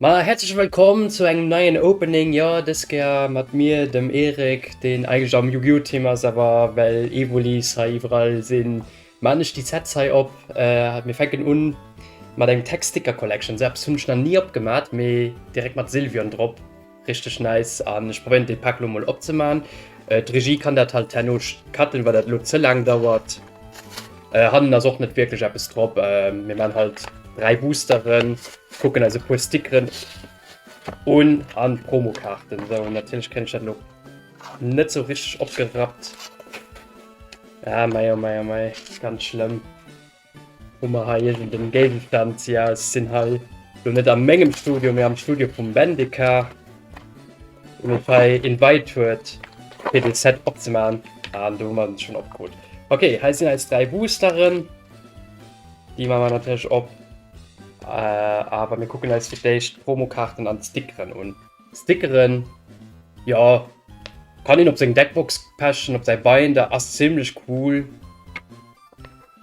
Ma häerzleche Wëllkomm zu engem neien Opening, jo dës Kéier mat mir, dem Erik, deen eigentlech am Yu-Gi-Oh! Team ass, awer well Evolis hei iwwerall sinn, man ech déi Sets hei op. Mir fänken un mat engem Tech Sticker Collection, sou eppes hunn ech nach ni opgemat, mee direkt mat Sylvion drop. Richteg nice an ech probéieren den Pack lo mol opzemaachen. D'Regie kann dat halt herno cutten well dat lo ze laang dauert. Hannen ass och net wierklech eppes drop. Mir maan halt 3 Boosteren, kucken eis e puer Stickeren un an Promokaarten. Sou natierlech kréien ech dat lo net sou richteg opgerappt. Aah mei oh mei oh mei ganz schlëmm. Hu mer hei iergend en Géigestand? Jo, ech sinn hei lo net a mengem Studio, mee am Studio vum Mendika, dee mech hei invite huet fir dee Set opzemaachen, an do hu mer en schonn opgeholl. Ok, hei sinn eis 3 Boosteren, déi maache mer natierlech op, awer mir kucken eis fir d'éischt d'Promokaarten an d'Stickeren un. Stickeren, jo, kann een op seng Deckbox pechen, op säi Binder, ass zimlech cool.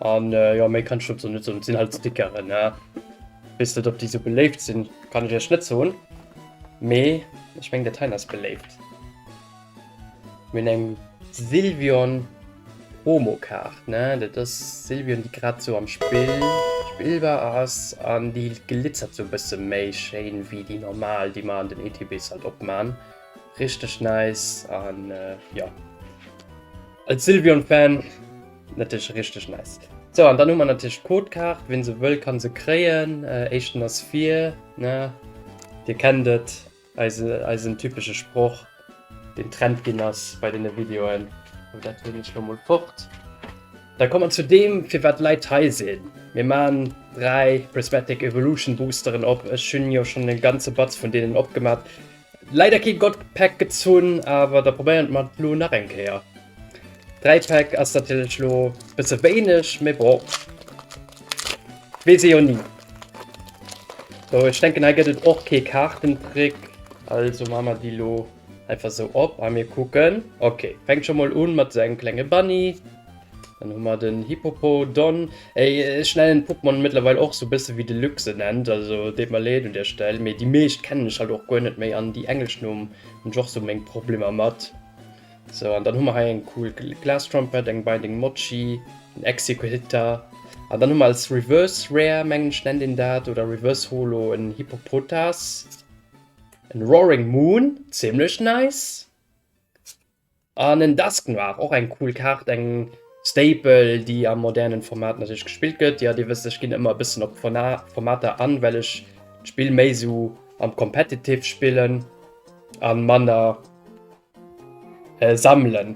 An jo méi kann ech dozou net soen, et sinn halt Stickeren ne. Weess net ob déi sou beléift sinn, kann ech iech net soen, mee ech meng dat heien ass beléift. Mir hunn eng Sylvion Promo Kaart ne, dat ass Sylvion déi grad sou am Spill Spill war ass an déi glitzert sou e bësse méi schéin wéi déi normal déi mer an den ETBs halt opman. Richteg nice an jo. Als Sylvion Fan natierlech richteg nice. Sou an dann hu mer natierlech d'Codekaart, ween se wëll kann se kréien. Éischten ass vir ne, dir kennt et, eise eisen typesche Sproch deen Trend ginn ass bei den Videoen. Sou dat hunn ech lo mol fort. Da komme mer zu deem firwat d'Leit hei sinn. Mir man 3 Prismatic Evolution Boosteren op. Ech hunn jo schonn e ganze Batz vun deenen opgemat, Leider kee God Pack gezunn, awer da probéieren mer et lo nach eng Kéier. Dräi Pack ass natierlech lo bësse wéineg, mee bon, weess ee jo ni. Sou, ech denken hei gëtt et och kee Kaartentrick, also maache mer déi lo einfach sou op a mir kucken. Ok, fänkt scho mol un mat esou engem klenge Bunny. Dann hun mer den Hippopo don. Ech nennen d'Pokemon mëttlerweil och sou bësse wéi de Luc se nennt, also deet mer leed un der Stell, mee déi meescht kennen ech halt och guer net méi an déi englesch Numm hun ech och sou meng Problemer mat. Sou, an dann hu mer hei eng cool Glastrumpet, eng Binding Mochi, en Exeggutor, an dann hu mer als Reverse Rare, mengen ech nennt een dat, oder Reverse Holo en Hippopotas, en Roaring Moon, zimlech nice. An en Desk Noir, och eng cool Kaart, eng Staple déi am modernen Format natierlech gespillt gëtt. Jo dir wësst ech ginn ëmmer e bëssen op Formater an, well ech d'Spill méi sou am Competitive spillen an manner sammelen.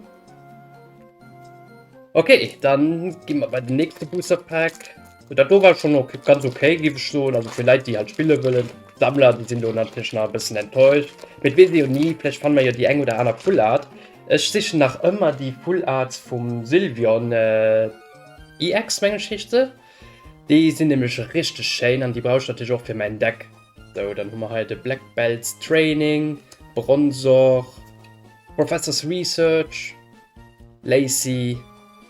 Ok dann ginn mer bei den nächste Booster Pack. Gut, dat do war schon okay, ganz okay gif ech soen, also fir Leit déi halt spille wëllen, Sammler, déi sinn do natierlech nach e bëssen enttäuscht, mee et weess ee jo ni, vläicht fanne mer jo déi eng oder aner Full Art. Ech sichen nach ëmmer déi Full Arts vum Sylvion EX, meng ech heescht se, déi sinn nämlech richteg schéin an déi brauch ech natierlech och fir mäin Deck. Sou, dann hu mer hei de Black Belt's Training, Bronzor, Professor's Research, Lacy.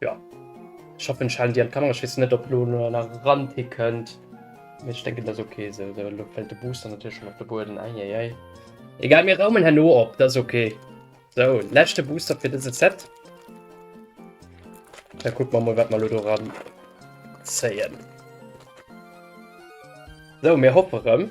Ja. Ich hoffe Shan dir an Kamera schiss net op lo nach ran hi könnt. Ich denke das okay so lo fällt de Booster natürlich schon op de Boden eieiei. Egal mir raumen herno op das okay. So lächte Booster fir dëse Set. Da guck man mal wat man lo do ran zéien. So mir hoppe rem.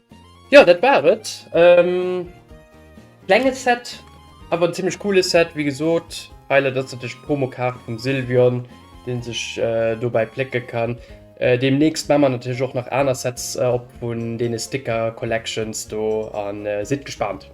Jo dat war et. Klenge Set awer en zimmlech coole Set. Wéi gesot Highlight ass natierlech d'Promokaart vum Sylvion, dee sech dobäi plécke kann. Deemnächst maache mer natierlech och nach aner Sets op vun deene Sticker Collections do a sidd gespaant.